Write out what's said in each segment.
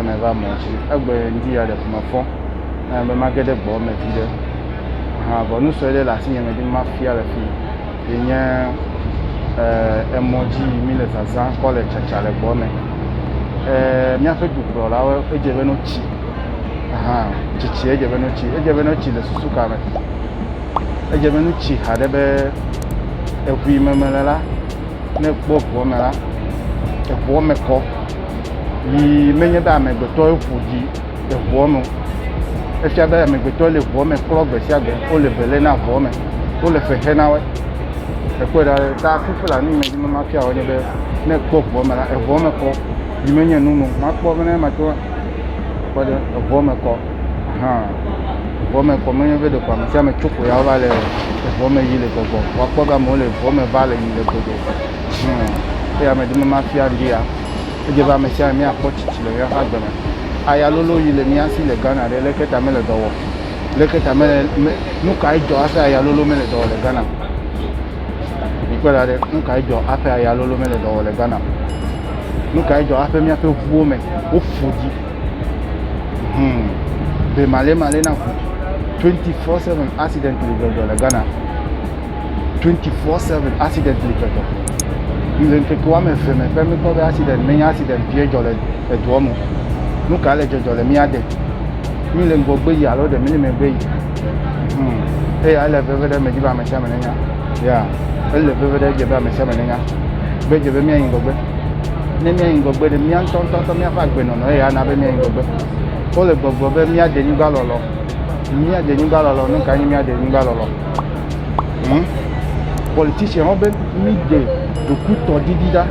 ame va mɔ dzi egbe ŋdi ya ɖe ƒome fɔ na be mage ɖe gbɔ me vi ɖe ha vɔ nu sue ɖe le asi nye me ɖi mafia le fi yi nye eh, emɔ dzi mi le zazã kɔ le tsatsa le gbɔ me eh, míaƒe dukplɔlawo edze be no tsi hã tsitsi edze be ne tsi edze be ne tsi le susu ka me edze be ne tsi haɖe be eŋu yi me mele la ne ekpɔ eŋua me la eŋua me kɔ yi menye be amegbetɔ eƒo ɖi eŋua me efia be amegbetɔ le eŋua me klɔ gbe sia gbe wole bele na eŋua me wole fexe na wɔ ekpɔe ɖa ta fifila ne yi me dzi mema fia wɔ nye be ne ekpɔ eŋua me la eŋua me kɔ Yi menye nu me o. Makpɔ be ne mato kɔ ɖe eŋua me kɔ hã. Eŋua me kɔ menye be ɖeko ame sia ame tso ko ya wova le eŋua me yi le gbɔgbɔ. Woakpɔ be amewo le eŋua me va le yi le gbɔgbɔ. Hum. Eya medi be mafia ŋdi ya. Edze be ame sia ame míakpɔ tsitsi le míaƒe agbe me. Aya lolo yi le mía si le Ghana ɖe leke ta mele dɔ wɔm? Leke ta mele me nu kae dzɔ hafi aya lolo mele dɔ wɔm le Ghana? Mikpɔe ɖa ɖe, nu kae dzɔ hafi aya lolo mele dɔ wɔ le Ghana o? Nu kae dzɔ hafi míaƒe ŋuwo me wofu dzi? Hmm. Be malemale na ŋu. 24/7 accident li dzɔdzɔ le Ghana. 24/7 accident li dzɔdzɔ. Le ŋkeke woame eve me ƒe mikpɔ be accident menye accident vie dzɔ le edua me. Nu kae le dzɔdzɔ le mía de? Mi le ŋgɔgbe yi alo ɖe mi le megbe yi? Hmm. Eya ele veve ɖe medzi be ame sia ame nenya. Ya, ele veve ɖe edze be ame sia ame nenya. Be edze be míayi ŋgɔgbe. Ne míayi ŋgɔgbe ɖe mía ŋutɔ ŋutɔ ŋutɔ míaƒe agbenɔnɔ eya ana be míayi ŋgɔgbe. Wole gbɔgblɔ be míade nyigba lɔlɔ. Míade nyigba lɔlɔ. Nu kae nye míade nyigba lɔlɔ? Hmm? Politician wo be míde ɖokutɔdidi ɖa.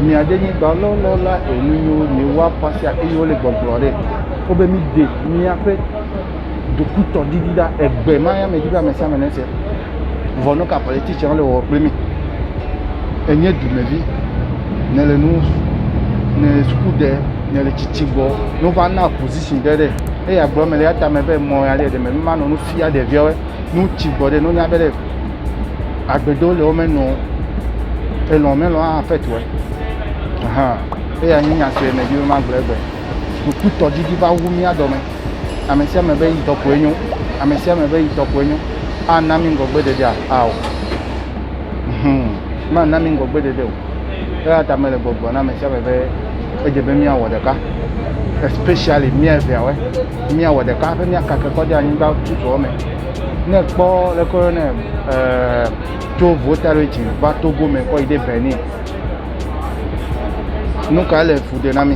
Míade nyigba lɔlɔ la enu yiwo míewa kɔ sia eye wole gbɔgblɔ ɖe. Wo be míde míaƒe ɖokutɔ ɖiɖi ɖa egbe ma ya me dzi be amesiame ne se vɔ nu ka politician le wɔ kple mi enye dumevi ne le nu ne suku ɖe ne le tsitsi gbɔ ne va na position ɖe ɖe eye agblɔ me le atame be mɔ ya ɖe ɖe me ma nɔ nu fia ɖeviawo nu tsi gbɔ ɖe no nya be ɖe agbedo le wo me nɔ elɔ me lɔ hã fɛ tuɛ hã eya nyi nya sue me dzi be ma gblɔ egbe ɖokutɔ ɖiɖi va wu mía dɔ me Ame sia ame be eyitɔ koe nyo. Ame sia ame be eyitɔ koe nyo. Ana mi ŋgɔgbeɖeɖea? Ao. Hum. Mana mi ŋgɔgbeɖeɖe o. Eya ta mele gbɔgblɔ na ame sia ame be edze be míawɔ ɖeka. Especially mía eveawe. Míawɔ ɖeka hafi míakake kɔ ɖe anyigba tututɔ me. Ne kpɔ leke woyɔnɛ eh, tso Votarichin va Togo me kɔ yi ɖe Benin. Nu kae le fu ɖe na mi?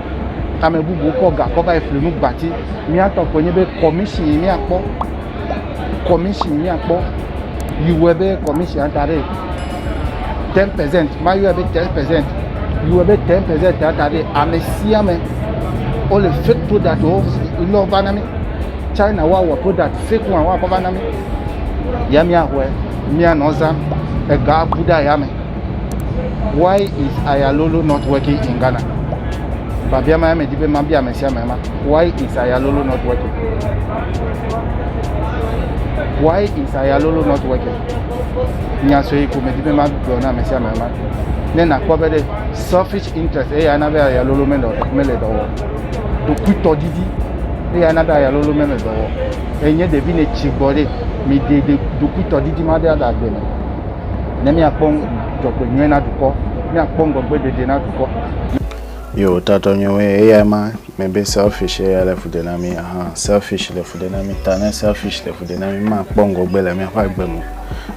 Ame bubuwo kɔ ga kɔ va yi fli nu gbati. Míatɔ koe nye be kɔmishi yi míakpɔ, kɔmishi yi míakpɔ yi wɔe be kɔmishi ata ɖe ten percent, mayɔe be ten percent, yi wɔe be ten percent ata ɖe ame sia ame wole fake product wo ne wova na mí. China woawɔ product fake one woakɔ va na mí. Ya míaxɔe, míanɔ zam, ega abu ɖe ayame. Why is Ayalolo not working in Ghana? Biabia ma medi be mabia ame sia ame ma. Why is Ayalolo not working? Why is Ayalolo not working? Nya sue ko medi be magblɔ na ame sia ame ma. Ne nakpɔ be ɖe selfish interest eya ana be Ayalolo mele mele dɔ wɔm. Ɖokuitɔ didi eya ana be Ayalolo mele dɔ wɔm. Enye ɖevi ne tsi gbɔ ɖe mi de ɖokuitɔ didi ma ɖe aɖe agbe me. ne míakpɔ dzɔgbenyui na dukɔ, míakpɔ ŋgɔgbeɖeɖe na dukɔ. Yo, tatɔ nyɔnwe eyae ma, me be selfish eya le fu ɖe na mi, aha, selfish le fu ɖe na mi, ta ne selfish le fu ɖe na mi, mi ma kpɔ ŋgɔgbe le miaƒe agbe me.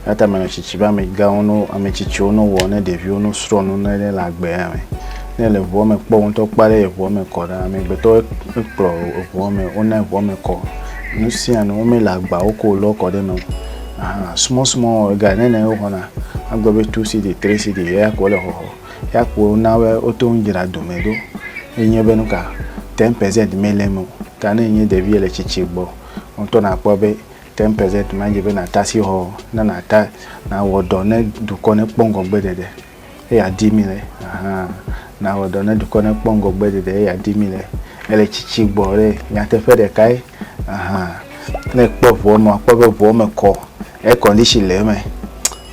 Ya ta menɔ tsitsi be ame gawo no, ame tsitsiwo no wɔ ne ɖeviwo no srɔ nu ne le agbe ya me. Ne le ʋuɔ me kpɔ ŋutɔ kpa ɖe ʋuɔ me kɔ ɖa, ame gbetɔ ekplɔ ʋuɔ me, wona ʋuɔ me kɔ, nu sia nu, wo me le agbawo ko lɔ kɔ ɖe me. Aha, small small ega ne ne woxɔna agbe be two cedi, three cedi eya ko wole xɔxɔ. Eya ko wona be woto ŋu dzra dome ɖo. Enye be nuka ten percent mele eme o. Ta ne enye ɖevi ele tsitsi gbɔ o ŋutɔ nakpɔ be ten percent ma dze be nata asixɔ ne nata nawɔ dɔ ne dukɔ nekpɔ ŋgɔgbe ɖeɖe. eye adi mi le ahan na wɔ dɔ ne dukɔ ne kpɔ ŋgɔgbe ɖeɖe eye adi mi le ele tsitsi gbɔ ɖe nyateƒe ɖeka ye ahan ne kpɔ ʋua me akpɔ be ʋua me kɔ air condition le eme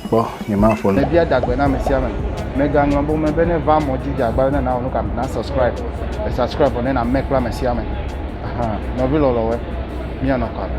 kpɔ nye ma ƒo ne. Bia dagbe na ame sia ame. Mega ŋlɔ bo me be ne va mɔ dzi dze agba ne na wɔ nuka na subscribe e subscribe vɔ ne na me kple ame sia ame ahan nɔvi lɔlɔwɔe mia nɔ kɔ ame.